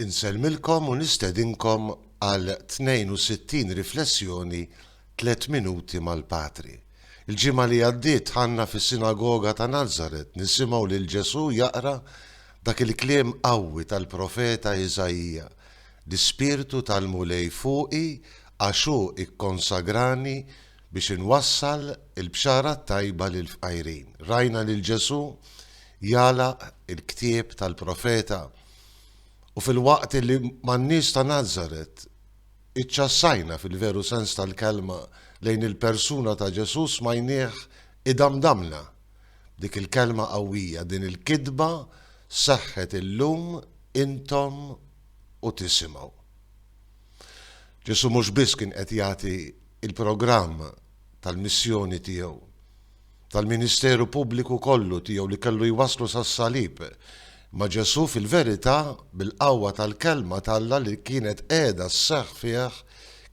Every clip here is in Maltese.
Insellmilkom u nistedinkom għal 62 riflessjoni Tliet Minuti mal-Patri. Il-ġimgħa li għaddiet ħanna fis-Sinagoga ta' Nazaret nisimgħu lil Ġesù jaqra dak il-kliem qawwi tal-profeta Iżaija, L-Ispirtu tal-Mulej fuqi għax hu kkonsagrani biex inwassal il-bxara t-tajba lill-fqajrin. Rajna lil Ġesù jagħlaq il-ktieb tal-profeta u filwaqt li man-nies ta' Nazaret iċċassajna fil-veru sens tal-kelma lejn il-persuna ta' Ġesù smajnieh idamdamlna b'dik il-kelma qawwija, din il-kitba seħħet illum intom u tisimgħu. Ġesù mhux biss kien qed jagħti l-programm tal-missjoni tiegħu, tal-ministeru pubbliku kollu tiegħu li kellu jwasslu sas-salib, imma Ġesù fil-verità, bil-qawwa tal-Kelma t'Alla li kienet qiegħda sseħħ fih,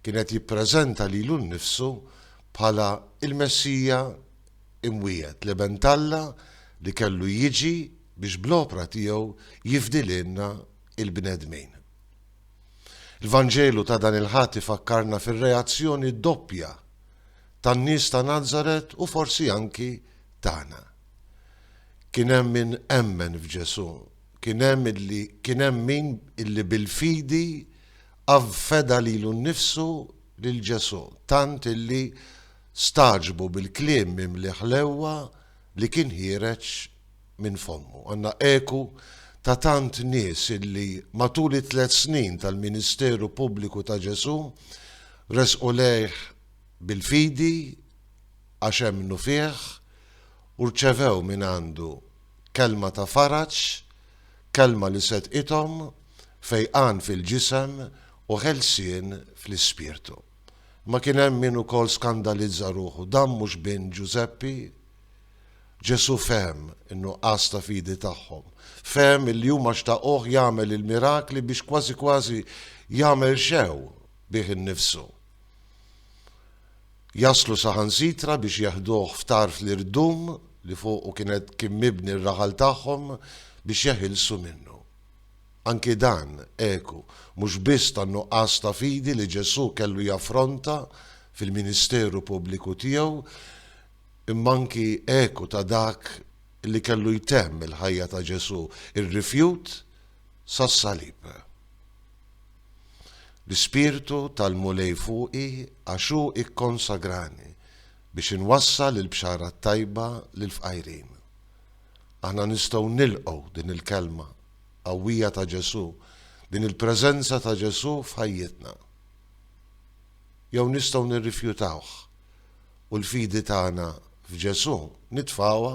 kien qed jippreżenta lilu nnifsu bħala l-Messija imwiegħed, l-Iben t'Alla li kellu jiġi biex bl-opra tiegħu jifdi lilna l-bnedmin. Il-Vanġelu ta' dan il-Ħadd ifakkarna fir-reazzjoni doppja tan-nies ta' Nazaret u forsi anki tagħna. Kien hemm min emmen f'Ġesù, kien hemm illi kien hemm min illi bil-fidi avfeda lilu nnifsu lil Ġesù tant illi stagħġbu bil-kliem mimli ħlewwa li kien ħiereġ minn fommu. Għandna eku ta' tant nies illi matul it-tliet snin tal-ministeru pubbliku ta' Ġesù resqu lejh bil-fidi għax emmnu fih u rċevew mingħandu kelma ta' faraġ, kelma li sedqithom fejqan fil-ġisem u ħelsien fl-ispirtu. Imma kien hemm min ukoll skandalizza ruħu, dan mhux bin Ġużeppi? Ġesù fehem in-nuqqas ta' fidi tagħhom. Fehem illi huma xtaquh jagħmel il-mirakli biex kważi kważi jagħmel xew bih innifsu. Jaslu saħansitra biex jeħduh f'tarf l-irdum li fuqu kienet kien mibni r-raħal tagħhom biex jeħilsu minnu. Anki dan eku mhux biss tan-nuqqas ta' fidi li Ġesù kellu jaffronta fil-ministeru pubbliku tiegħu, imma anki eku ta' dak li kellu jtemm il-ħajja ta' Ġesù, ir-rifjut sas-salib. L-Ispirtu tal-Mulej fuqi għax hu kkonsagrani biex inwassal il-Bxara t-Tajba lill-fqajrin. Aħna nistgħu nilqgħu din il-kelma qawwija ta' Ġesù, din il-preżenza ta' Ġesù f'ħajjitna. jew nistgħu nirrifjutawh u l-fidi tagħna f'Ġesù nitfgħuha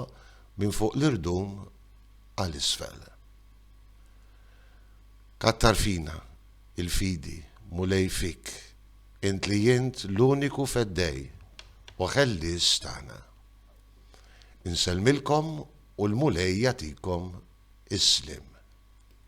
minn fuq l-irdum għal isfel. Kattar fina il-fidi, Mulej fik, int li int l-uniku Feddej u Ħellies tagħna. Insellmilkom u l-Mulej jagħtikom is-sliem.